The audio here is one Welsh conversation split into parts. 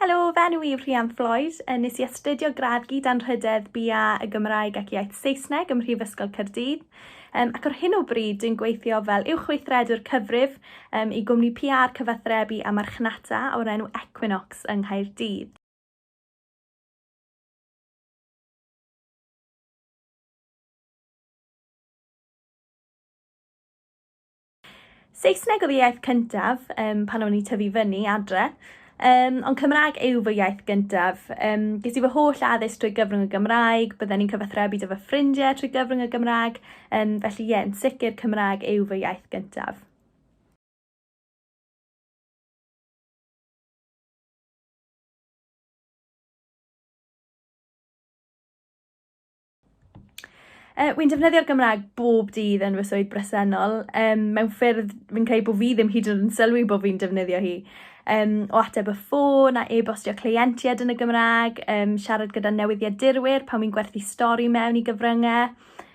Helo, fe enw i Rhian Floyd. Nes i astudio gradd gyd anrhydedd BA y Gymraeg ac Iaith Saesneg ym Mhrifysgol Caerdydd. Um, ac ar hyn o bryd, dwi'n gweithio fel uwchweithredwr cyfrif um, i gwmni PR cyfathrebu a marchnata o'r enw Equinox yng Nghaerdydd. Saesneg oedd y iaith cyntaf um, pan o'n i tyfu fyny adre, um, ond Cymraeg yw fy iaith gyntaf. Um, ges i fy holl addysg trwy gyfrwng y Gymraeg, bydden ni'n cyfathrebu dy fy ffrindiau trwy gyfrwng y Gymraeg, um, felly ie, yeah, yn sicr Cymraeg yw fy iaith gyntaf. Uh, wy'n defnyddio'r Gymraeg bob dydd yn fy swydd bresennol, um, mewn ffyrdd fi'n credu bod fi ddim hyd yn sylwi bod fi'n defnyddio hi. Um, o ateb y ffôn a e-bostio cleientiaid yn y Gymraeg, um, siarad gyda newyddiadurwyr pan fi'n gwerthu stori mewn i gyfryngau.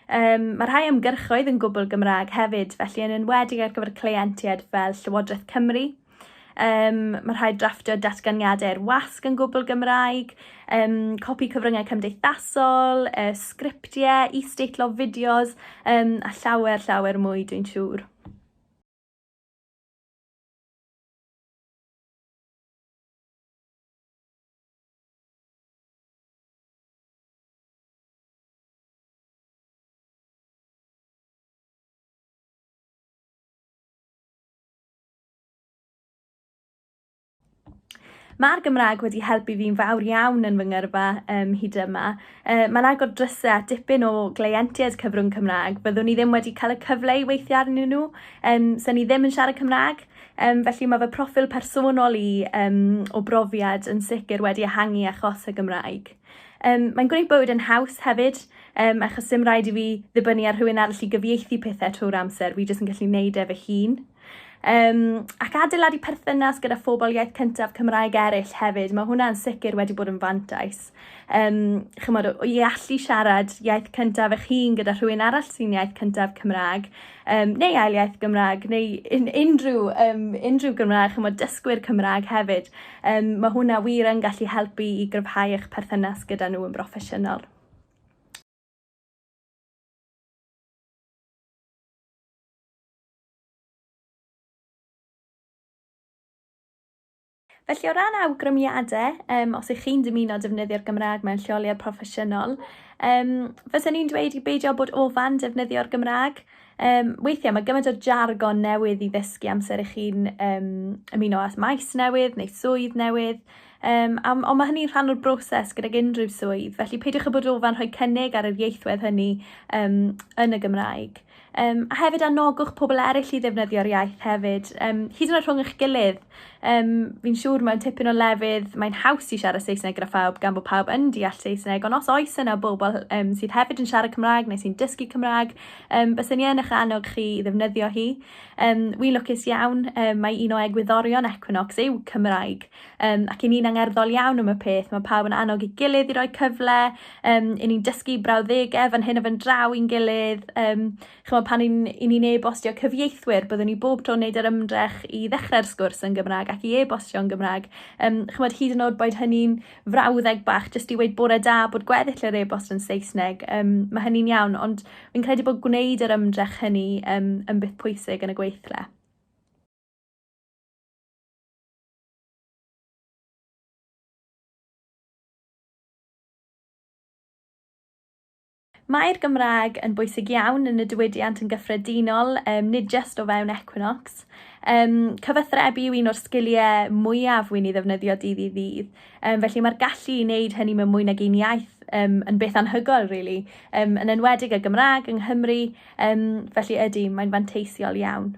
Um, mae rhai ymgyrchoedd yn gwbl Gymraeg hefyd, felly yn enwedig ar gyfer cleientiaid fel Llywodraeth Cymru, Um, mae rhaid drafftio datganiadau i'r wasg yn gwbl Gymraeg, um, copi cyfryngau cymdeithasol, uh, sgriptiau, e-statelof fideos, um, a llawer, llawer mwy, dwi'n siŵr. Mae'r Gymraeg wedi helpu fi'n fawr iawn yn fy ngyrfa um, hyd yma. Uh, mae'n agor drysau at dipyn o gleientiaid cyfrwng Cymraeg. Byddwn i ddim wedi cael y cyfle i weithio arnyn nhw, um, sy'n ni ddim yn siarad Cymraeg. Um, felly mae fy profil personol i um, o brofiad yn sicr wedi ehangu achos y Gymraeg. Um, mae'n gwneud bywyd yn haws hefyd, um, achos dim rhaid i fi ddibynnu ar rhywun arall i gyfieithu pethau trwy'r amser, fi jyst yn gallu neud e fy hun. Um, ac adeiladu perthynas gyda phobl iaith cyntaf Cymraeg eraill hefyd, mae hwnna'n sicr wedi bod yn fantais. Um, chymod, i allu siarad iaith cyntaf eich hun gyda rhywun arall sy'n iaith cyntaf Cymraeg, um, neu ail iaith Gymraeg, neu un, unrhyw, um, unrhyw Gymraeg, chymod, dysgwyr Cymraeg hefyd, um, mae hwnna wir yn gallu helpu i gryfhau eich perthynas gyda nhw yn broffesiynol. Felly o ran awgrymiadau, um, os ych chi'n dymuno defnyddio'r Gymraeg mewn lleoliad proffesiynol, um, fysa ni'n dweud i beidio bod ofan defnyddio'r Gymraeg. Um, weithiau mae gymaint o jargon newydd i ddysgu amser ych chi'n um, ymuno at maes newydd neu swydd newydd. Um, am, ond mae hynny'n rhan o'r broses gydag unrhyw swydd, felly peidiwch â bod ofan rhoi cynnig ar yr ieithwedd hynny um, yn y Gymraeg. Um, a hefyd anogwch pobl eraill i ddefnyddio'r iaith hefyd, um, hyd yn oed rhwng eich gilydd. Um, fi'n siŵr mewn tipyn o lefydd mae'n haws i siarad Saesneg gyda phawb gan bod pawb yn deall Saesneg, ond os oes yna bobl um, sydd hefyd yn siarad Cymraeg neu sy'n dysgu Cymraeg, um, bys ni yn eich annog chi i ddefnyddio hi. Um, wi'n lwcus iawn, um, mae un o egwyddorion Equinox yw Cymraeg, Um, ac i ni'n angerddol iawn am y peth, mae pawb yn annog i gilydd i roi cyfle, um, i ni'n dysgu brawddegau fan hyn a fan draw i'n gilydd. Um, chymod, pan i ni'n e-bostio cyfieithwyr, byddwn ni bob tro'n neud yr ymdrech i ddechrau'r sgwrs yn Gymraeg ac i e-bostio yn Gymraeg. Um, chymod, hyd yn oed boed hynny'n frawddeg bach, jyst i weid bore da bod gweddill yr e-bost yn Saesneg, um, mae hynny'n iawn, ond fi'n credu bod gwneud yr ymdrech hynny um, yn beth pwysig yn y gweithle. Mae'r Gymraeg yn bwysig iawn yn y diwydiant yn gyffredinol, um, nid just o fewn Equinox. Um, cyfathrebu yw un o'r sgiliau mwyaf wy'n ei ddefnyddio dydd i ddydd, um, felly mae'r gallu i wneud hynny mewn mwy nag un iaith um, yn beth anhygoel, really, um, yn enwedig y Gymraeg yng Nghymru, um, felly ydy, mae'n fanteisiol iawn.